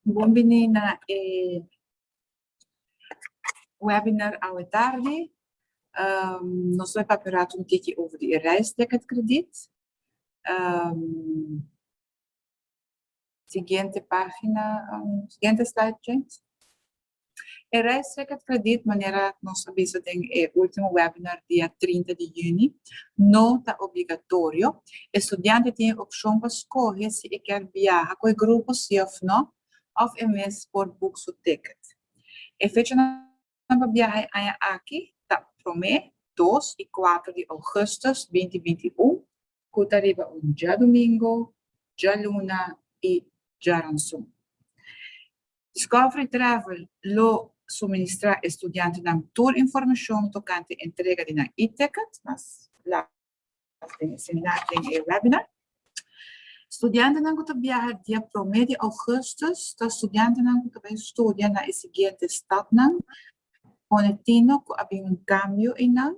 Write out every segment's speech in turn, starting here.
Bon bini na e webinar awe tardi. Nos lo a papia un ratu un tiki over di e reisticket krediet. Siguiente pagina, siguiente slide please. E reisrekat krediet manera nos a bisa den e ultimo webinar dia trinta di yüni no ta obligatorio. E studiante tin e opshon pa skohe si e kier biaha ku e grupo si òf no òf e mes por boek su ticket. E fecha na. Nan pa biaha e aña aki ta prome, dos i kuater di ougùstùs binti binti un, ku ta riba un djadumingu, djaluna i djaransun. Discovery Travel lo suministrá e studiantenan tur informashon tokante entrega di nan e-ticket, mas. den seminar den e webinar. Studiantenan ku ta biaha dia promé di ougùstus ta studiantenan ku ta bin studia na e siguiente stadnan, Ponetino ku a bin un kambio einan,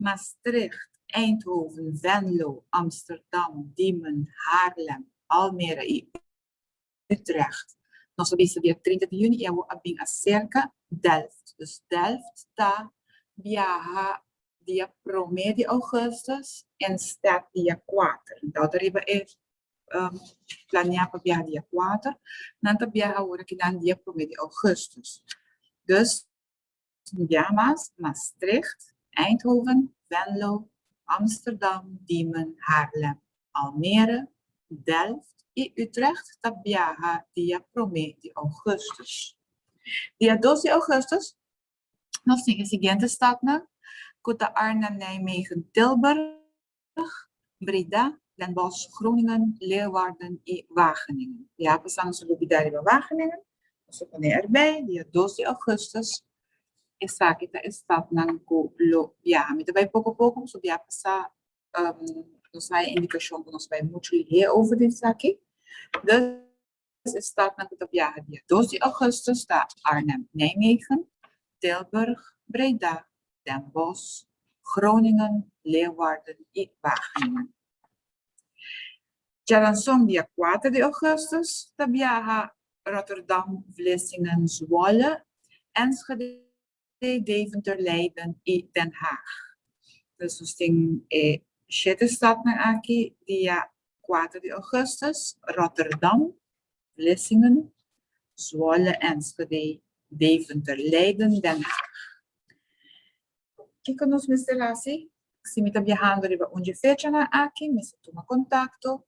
Maastricht, Eindhoven, Venlo, Amsterdam, Diemen, Haarlem, Almere i. Utrecht. Nos a bisa dia trinta di juni i awor a bin aserka Delft. Dus Delft ta biaha dia promé di ougùstus en stèd dia kuater. Nau ta riba e planeá pa biaha dia kuater. Nan ta biaha ora ki nan dia promé di ougùstus. Dus. Sint-Jamas, Maastricht, Eindhoven, Venlo, Amsterdam, Diemen, Haarlem, Almere, Delft i Utrecht ta biaha dia promé di ougùstus. Dia dos di ougùstus nos tin e siguiente stadnan, ku ta Arnhem, Nijmegen, Tilburg, Limburg, Breda, Den Bosch, Groningen, Leeuwarden i Wageningen. Di a pasa nos a lubidá riba Wageningen, nos a pon'é erbei dia dos di ougùstùs. Esaki ta e stadnan ku lo biaha. Mi ta bai poko poko pasobra di a pasa nos haña indikashon ku nos bai muchu lihé over di esaki. Tres estatnan ku ta biaha dia dos di ougùstus ta Arnhem, Nijmegen, Tilburg, Breda, Den Bosch, Groningen, Leeuwarden i Wageningen. Jalanson dia kuater di ougùstus ta biaha Rotterdam, Vlissingen, Zwolle, Enschede, Enschede, Deventer, Leiden i Den Haag. Dus nos tin e shete stadnan aki dia kuater di ougùstùs, Rotterdam, Vlissingen, Zwolle, Enschede, Deventer, Leiden, Den Haag. Kiko nos mester hasi si mi ta biahando riba un dje fechanan aki? Mester tuma kontakto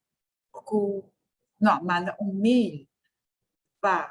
ku, no, manda un mail pa.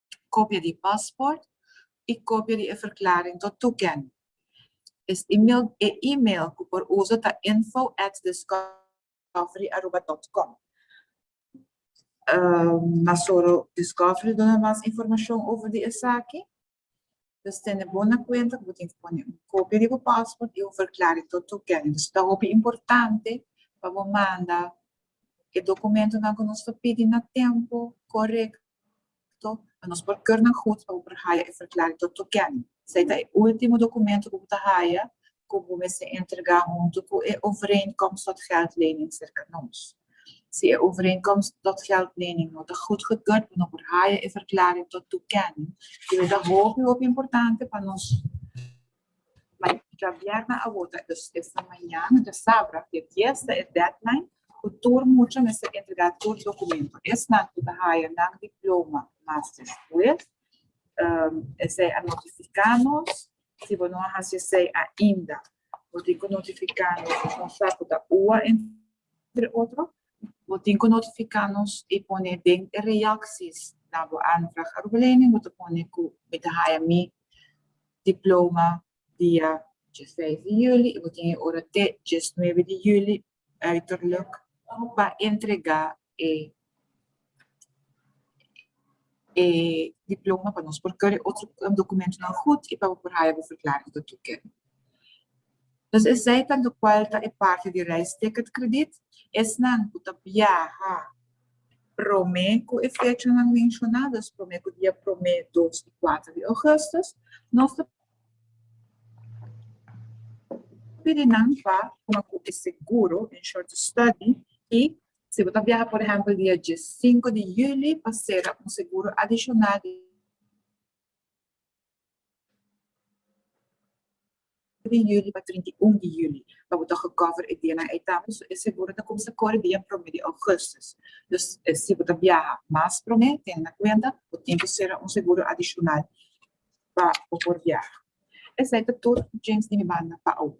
kopia di e pasport i kopia di e verklaring tot toekenning. E e-mail ku por usa ta info at discoveryaruba dot com. Na soro Discovery duna mas informashon over di esaki. Dus tene bo na kuenta ku bo tin ku pone un kopia di bo pasport i un verklaring tot toekenning. Dus ta hopi importante pa bo manda e dokumentunan ku nos ta pidi na tempu korekto. Portanto, pa nos por keur nan hunt pa bo por haya e Verklaring tot Toekenning. Esei ta e ultimo dokumento ku bo ta haya ku bo mester entrega huntu ku e Overeenkomst tot Geldlening serka nos. Si e Overeenkomst tot Geldlening no ta goedgekeurd, bo no por haya e Verklaring tot Toekenning, ku yo ta hopi hopi importante pa nos. Mai dja bierna awor ta es na mañana dja sabra dia dies ta e deadline ku tur mucha mester entregá tur dokumento esnan ku ta haya nan diploma masters with esei a notifiká nos si bo no a hasi esei ainda bo tin ku notifiká nos nos sa ku ta ua. Entre otro, bo tin ku notifiká nos i pone den e reaksis na bo aanvraag arbelening bo ta pone ku Mi ta haya mi diploma dia dje seis di juli i bo tin e ora te djes nuebe di juli uiterluk pa entregá e e diploma pa nos por kere otro dokumentunan gut i pa bo por haya bo verklaring ta tuke. Entonces esei ta lokual ta e parti di reis ticket krediet, esnan ku ta biaha prome ku e fechanan menshoná, dus prome ku dia prome, dos i kuater di ougùstus, nos ta pidi nan pa kuma ku e seguro, insured to study, i Si bo ta biaha por ehempel dia diessinko di juli pa sera un seguro adishonal di juli pa trinta i un di juli pa bo ta gekover e dianan ei tambe so e seguro ta kumsa kore dia prome di ougustus. Dus si bo ta biaha mas prome tene na kuenta bo tin ku sera un seguro adishonal pa bo por biaha. Esei ta tur, James, di mi banda pa awo.